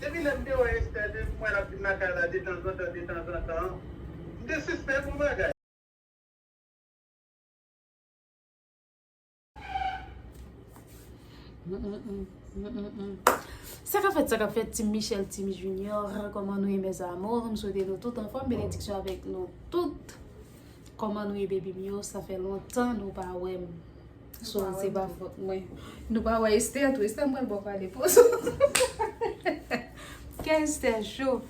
Depi lè m te wè Esther de m wè l ap vin lakay la detanzantan detanzantan. M te sispèk yon bagay. Sa kap fèt sa kap fèt Team Michel Team Junior Kòman nou ye mes amours M swete nou tout anfòm Benediksyon avèk nou tout Kòman nou ye baby m yo Sa fè lontan nou pa wè m. So se pa fot mwen. Nou pa wè Esther tou. Esther m pral baw pale pozo. Kè Esther cho.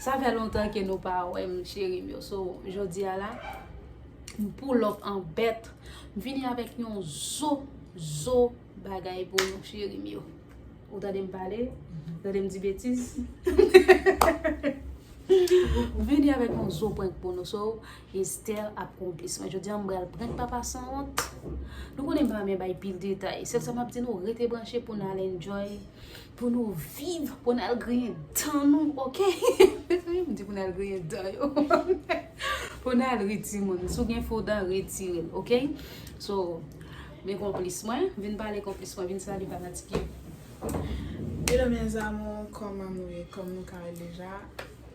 Sa fè lontan ke nou pa wè m cheri m yo. So jodi a la m pull up an bèt. M vini avèk yon zo zo bagay pou nou cheri m yo. Ou tande m pale? Ou tande m di betiz? M vini avèk yon zo prank pou nou. So. Esther ap konplis mwen jodia m bal prank papa sanwont nou konnen m pa renmen bay pil detay sèl sa map di nou rete branche pou nal enjoy pou nou viv pou nal griyen dan nou ok mezanmi m di pou nal griyen dan yo pou nal ri timoun si w gen fo dan retire l ok so men konplis mwen vin pale konplis mwen vin salye papa ti pye Hello mes amours, kòman nou ye? Kòm nou ka wè deja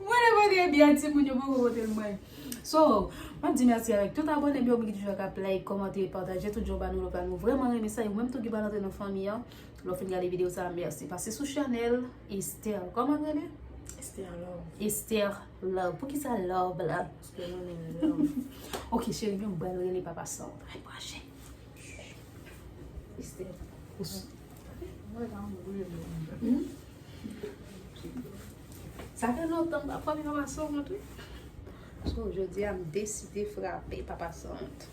Mwen mande byen ti moun yo poko potel mwen. So, map di mèsi avèk tout abònem yo ki toujou ap like, kòmante e pataje tout jan ba nou love la. Nou vrèman renmen sa e ou menm tou ki pa rantre nan fanmi an, lè w fin gade video sa mèsi. Pase sou chanèl Esther. Kòman l rele? Esther Love. Esther Love. Poukisa love la? Paske mwen renmen love. Ok cheri m bal rele papa san. Ay pwache. Esther. Mwen ta anvi rele. Sa fè lontan m pa frape papa Sawont wi. So jodi a m deside frape papa Sawont.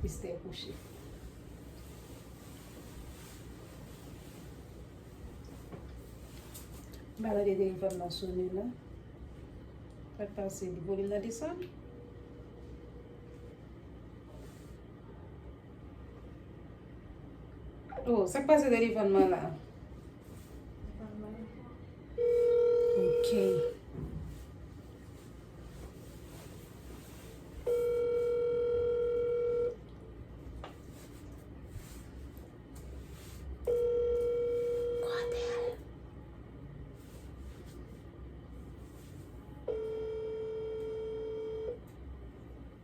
Esther kouche. M pa tande telefòn nan sone non. Sa k pase? Volim nan desann? Oh, sak pase telefon mwen la? Ok.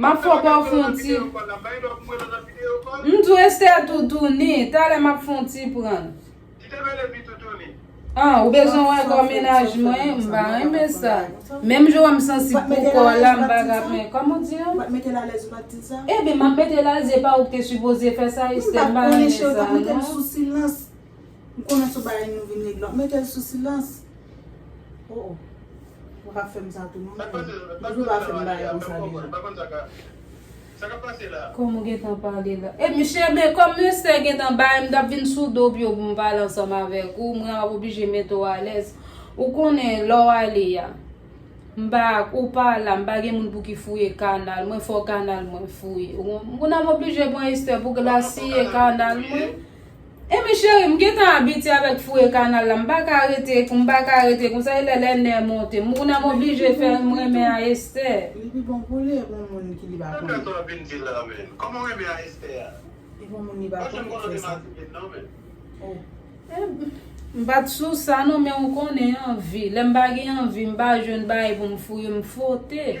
Map fè w baw fon ti M di w Esther toutouni Talè map fon ti pran An ou bezwen wè kò mennaj mwen M pa renmen sa Menm jan w wè m sansib pou kò w la m pa ka pran Kòman w di an Ebyen map mete l alèz e pa ou ki te sipoze fè sa Esther m pa renmen sa non. M konnen sou bay nou vin regle wap metel sou silans oh oh ou pap fem sa tou non frem depiw pa fem bagay konsa deja. Kòm ou gentan pale la. E misye men kòm Lestè gentan bay m tap vin sou do pyo pou m pale ansanm avèk ou mwen ap oblije mete w alèz ou konnen lè w ale a m pa ou pa la m pa gen moun pou ki fouye kanal mwen fò kanal mwen fouye ou konprann m oblije pran Estè pou glasiye kanal mwen. Amy chérie m gentan abitye avèk fouye kanal la m paka rete m paka rete konsa e lè lè nè monte m ou nan m oblije fè m renmen a Esther. Li pi bon pou li e pou moun ki li pa konnen. Sa plat ou ap vin di la menm. Kòman renmen a Esther a. E pou moun li pa konnen ou fè sa. M pat sou sa non men ou konnen anvi lè m pa gen anvi m pa jwenn bagay pou m fouye m frote.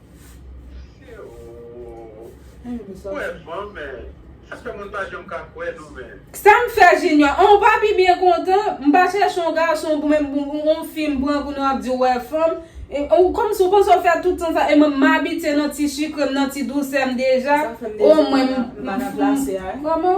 Sam fè junior an ou pa pi byen kontan m pa chèche yon gason pou men yon fi m pran kounye wap di ou wè fanm ou kòmsi ou panse ou fè tout tan sa e mwen m abitye nan ti sikre m nan ti dousè m deja o mwen m kòman.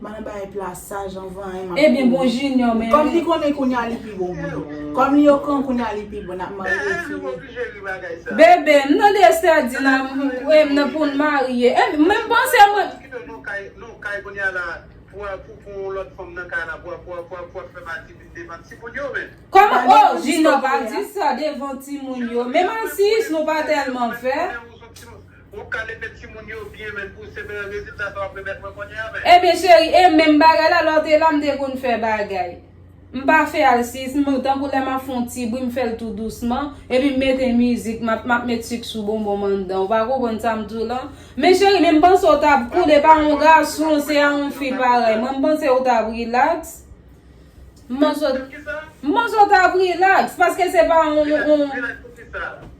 Madan bay plas saj anvan hein map Ebyen bon junior men Kom li konnen kounya li pi bon pou nou Kom li okran kounya li pi bon nap marye fini. Bebe m nan dese di nan m nan poun marye men panse mwen. Koman oh junior pa di sa devan timoun yo men masisi nou pa telman fe. Ou ka leve timoun yo byen men pou se bel rezilta sa wap remèt mwen kounye a men. Ebyen cheri e menm bagay la lè w te la m te konn fè bagay m pa fè al sis m tankou lè map fon ti bri m fèl tou dousman epi m mete mizik map map met suk sou bonbon m anndan w pa konprann sa m diw lan men cheri men m panse w tap cool e pa yon gason se a yon fi parèy mwen m panse w tap relax m panse w tap relax paske se pa yon. Relax poukisa?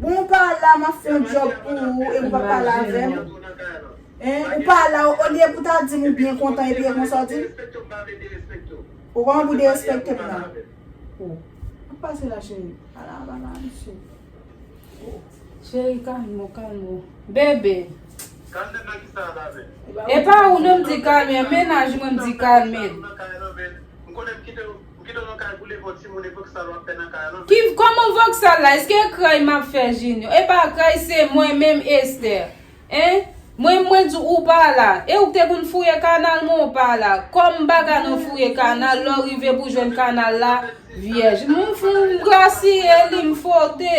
Bon ou pa la map fè yon job pou ou epi ou pa pale avèm hein ou pa la olye pou ta dim ou byen kontan epi e konsa ou dim Bon kòman pou derespekte m nan Sak pase la cheri ala bagay mesye Cheri kalme ou kalme ou Bebe Epa ou non m di kalme menaj mwen m di kalme l. Pou ki dono kay boule vò timoun e voksal wap fè nan kay lan. Ki koman voksal la eske kray map fè junior epa kray se mwen menm Esther hein mwen mwen di ou pa la e ou k te konn fouye kanal mwen ou pa la kòm baga nan fouye kanal lè w rive pou jwenn kanal la vyèj m grasiye li m fwote.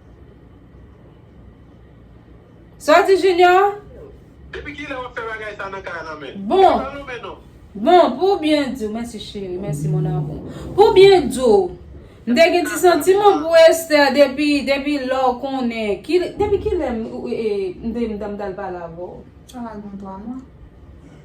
Sa w di Junior? Depi kilè wap fè bagay sa nan kay la men? Bon. Ou pa lonmen non. Bon, pou byen di w, mèsi cheri, mèsi mon amour. Pou byen di w, m te gen ti santiman pou Esther depi, depi lè w konnen, ki, depi kilè m, m te, m t al pale avè w? Sa va gen 3 mwa.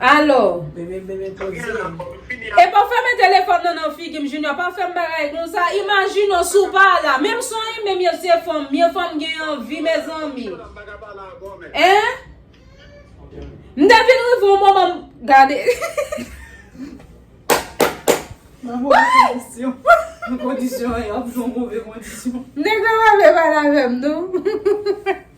Alo. Bebe bebe poze. Epa fèmen telefòn nan nan figim Junior pa fèm bagay konsa imajine w si w pa la menm si w renmen m yo se fanm m yo fò m gen anvi mezanmi Hein M te vin rive yon moman m gade Nan move kondisyon Nan kondisyon an y ap nan move kondisyon Nèg la pa vle pale avè m non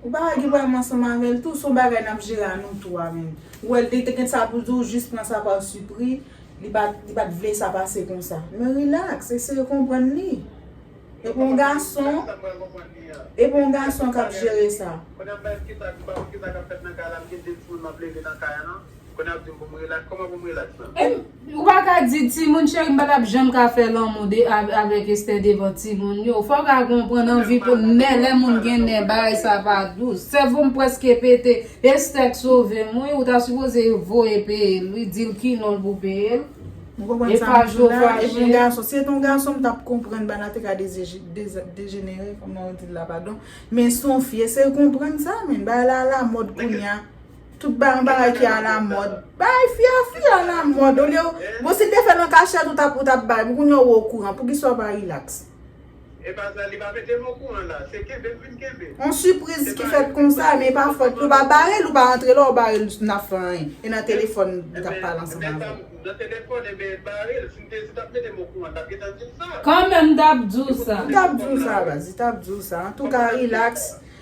Ou pa wè gen pwèm ansanm avèl tou son bagay nap jere a nou 3 menm ou wèl te gen sa poul di ou jis pran sa par sipri li pat li pat vle sa pase konsa men relax eseye konprann li epi yon gason epi yon gason kap jere sa. Kounye a m bay kisa m pa konn kisa kap fèt nan kay la m gen 2 timoun map leve nan kay an nan. Kounye a ap dim pou m relax, koman pou m relax la? Em ou pa ka di timoun cheri m pa tap janm ka fè lanmou de avèk Esther devan timoun yo fò w ka konprann anvi pou nè lè moun gen nè bagay sa pa dous sèvo m prèske pete Esther k sove m wi ou ta sipoze voye peye l wi di l ki non l pou peye l Ou konprann sa map di w la e m yon gason si se te yon gason m tap konprann bagay te ka dejenere kòman w di l la padon men son fi eseye konprann sa men bagay la alamòd kounye a. Tout bay yon bagay ki a la mòd. Bay fia fia a la mòd. Olye w, bon si l te fè l an kachèt ou tap ou tap bay. Pou kounya ou o kouran. Poukisa ou pa relax? E pa sa, li pa mete m o kouran la. Se kenbe m vin kenbe. On sipriz ki fèt konsa, men e pa fòt li. Ou pa bare l, ou pa antre la, ou bare l n ap fè anyen. E nan telefòn li tap pale ansanm avè w. Nan telefòn e ben bare l. Si l te si tap mete m o kouran, tap gentan di l sa. Kanmenm m tap di w sa. Li tap di w sa baz, li tap di w sa. Antouka relax.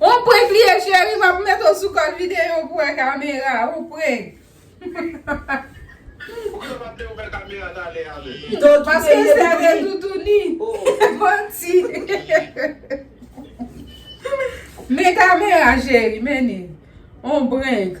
On prank li ye cheri map met ou sou kòl video pou wè kamera on prank. Poukisa ou pa vle yo wè kamera talè a menm. Paske sè de toutouni. Manti. Men kamera cheri mennen on prank.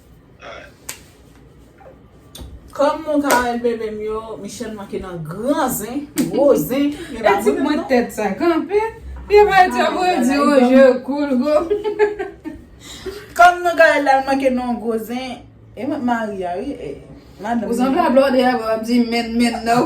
Kòm mwen ka wèl bebe m yo Michelle manke nan gran zen gwo zen men pa mwen menm non. Yo pa di yo vre di yo je koul gou. Kòm mwen ka wèl la l manke nan gwo zen e mwen k mari a wi e. Ou sanble a blòdè a wap di menn menn nan.